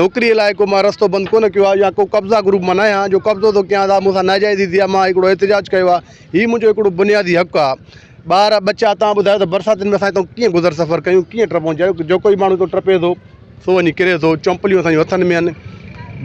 نوڪريء لاء ڪو مان رستو بند ڪونه ڪيو آهي يا ڪو قبضا گروپ مان ناهي آهيان جو قبضو ٿو ڪيان سا مون سان ناجائز ٿي ٿئي ها مان هڪڙو احتجاج ڪيو آهي هي منهنجو هڪڙو بنيادي حق آهي ٻار ٻچا تان ٻڌايو ته برساتين ۾ اسان هتان ڪيئن گذر سفر ڪيون ڪيئن ٽپون جا جو ڪوئي ماڻهو هتان ٽپي ٿو سو وڃي ڪري ٿو چمپليون اسان جون هٿن ۾ آهن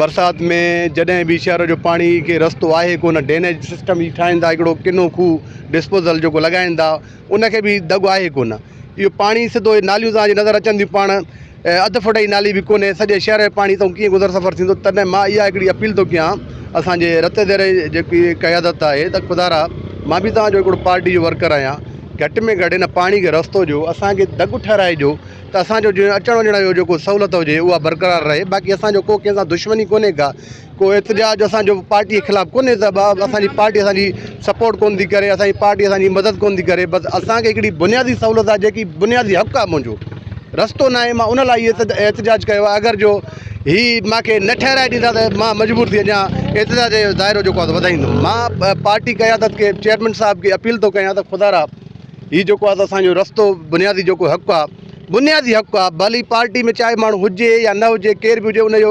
برسات ۾ جڏهن به شهر جو پاڻي کي رستو آهي ڪونه ڊينيج سسٽم هي ٺاهين ٿا هڪڙو ڪنو کوهه ڊسپوزل جيڪو لڳائين ٿا ان کي به دڳ آهي ڪونه اهو پاڻي سڌو ناليون تان جي نظر اچن ٿيون پاڻ اڌ فوٽ جي نالي به ڪونهي سڄي شهر جي پاڻي تئون ڪيئن گذر سفر ٿيندو تڏهن مان اها هڪڙي اپيل ٿو ڪيان اسان جي رت ديري جيڪي قيادت آهي ته خدارا مان به توهان جو هڪڙو پارٽي جو ورڪر آهيان گهٽ ۾ گهٽ ان پاڻي کي رستو ڏيو اسان کي دڳ ٺهرائجو ته اسان جو جيئن اچڻ وڃڻ جو جيڪو سهولت هجي اها برقرار رهي باقي اسان جو ڪو ڪنهن سان دشمني ڪونهي ڪا ڪو احتجاج اسان جو پارٽي خلاف ڪونهي ته ٻه اسان جي پارٽي اسان جي سپورٽ ڪونه ٿي ڪري اسان جي پارٽي اسان جي مدد ڪونه ٿي ڪري بس اسان کي هڪڙي بنيادي سهولت آهي جيڪي بنيادي حق آهي منهنجو رستو ناهي مان ان لاء احت احتجاج ڪيو آهي اگر جو هي ماکي نه ٺهرائي ڏيندا ته مان مجبور ٿي اڃا احتجاج جو دائرو جيڪو آهي وڌائيندم مان پارٽي قيادت کي چيئرمين صاحب کي اپيل ٿو ڪيان ته خدا را هي جيڪو آهي اسان جو رستو بنيادي جيڪو حق آهي بنيادي حق آهي ڀلي پارٽي ۾ چاهي ماڻهو هجي يا نه هجي ڪير به هجي ان جو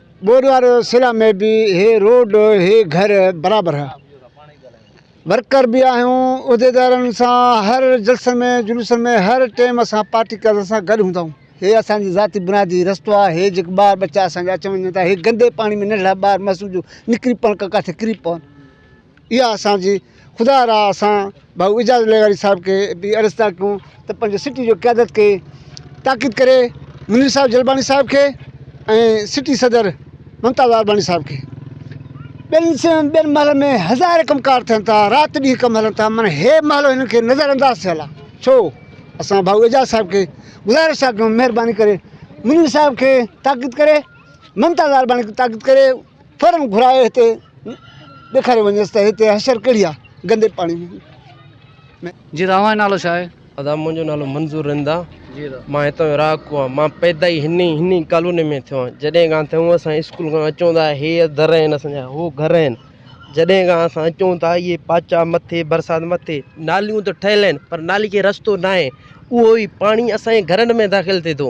ٻوڏ واري سرا ۾ به هي روڊ هي گهر برابر ها. ورڪر به آهيون عهديدارن سان هر جلسن ۾ جلوسن ۾ هر ٽيم اسان پارٽي قيادت سان گڏ هوندا آهيون. هي اسان جي ذاتي بنادي رستو آهي هي جيڪي ٻار ٻچا اسان جا اچن وڃن ٿا هي گندي پاڻي ۾ ننڍڙا ٻار معصوم جو نڪري پون ڪا ڪاٿي ڪري پون. اها اسان جي خدا را اسان ڀائو اعجاز لغاري صاحب کي به عرض ٿا ڪيون ته پنهنجي سٽي جو قيادت کي تاڪيد ڪري منير صاحب جلباڻي صاحب کي ۽ سٽي صدر ممتاز آرباڻي صاحب کي ٻين سين ٻين محلن ۾ هزار ڪم ڪار ٿين ٿا رات ڏينهن ڪم هلن ٿا مگر هي محلو هنن کي نظر انداز ٿيل آ ڇو اسان ڀائو اعجاز صاحب کي گذارش ٿا ڪيون مهرباني ڪري منير صاحب کي تاڪيد ڪري ممتاز آرباڻي کي تاڪيد ڪري فورن گهرائي هتي ڏيکاري وڃيس ته هتي حشر ڪهڙي آ گندي پاڻي ۾. جي راهوان جو نالو ڇا آهي؟ ادا منهنجو نالو منظور رند آ مان هتان جو رهاڪو آهيان مان پيدا ئي هن ئي هن ئي ڪالوني ۾ ٿيو آهيان جڏهن کان ٿيون اسان اسڪول کان اچون ٿا هي در آهن اسان جا هو گهر آهن جڏهن کان اسان اچون ٿا اهي پاچا مٿي برسات مٿي ناليون ته ٺهيل آهن پر نالي کي رستو ناهي اهو ئي پاڻي اسان جي گهرن ۾ داخل ٿئي ٿو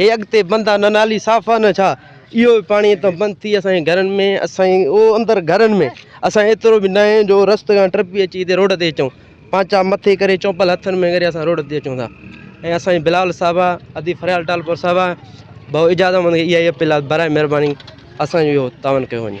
هي اڳتي بند آ نه نالي صاف آ نه ڇا اهو به پاڻي اتان بند ٿي اسان جي گهرن ۾ اسان جي او اندر گهرن ۾ اسان ايترو به ناهي جو رست کان ٽپي اچي هتي روڊ تي اچون پانچا مٿي ڪري چومپل هٿن ۾ ڪري اسان روڊ تي اچون ٿا ۽ اسان جي بلال صاحب آ ادي فريال ٽالپور صاحب آ بهو اجازت مند اها اپيل آ برائي مهرباني اسان جو اهو تعاون ڪيو وڃي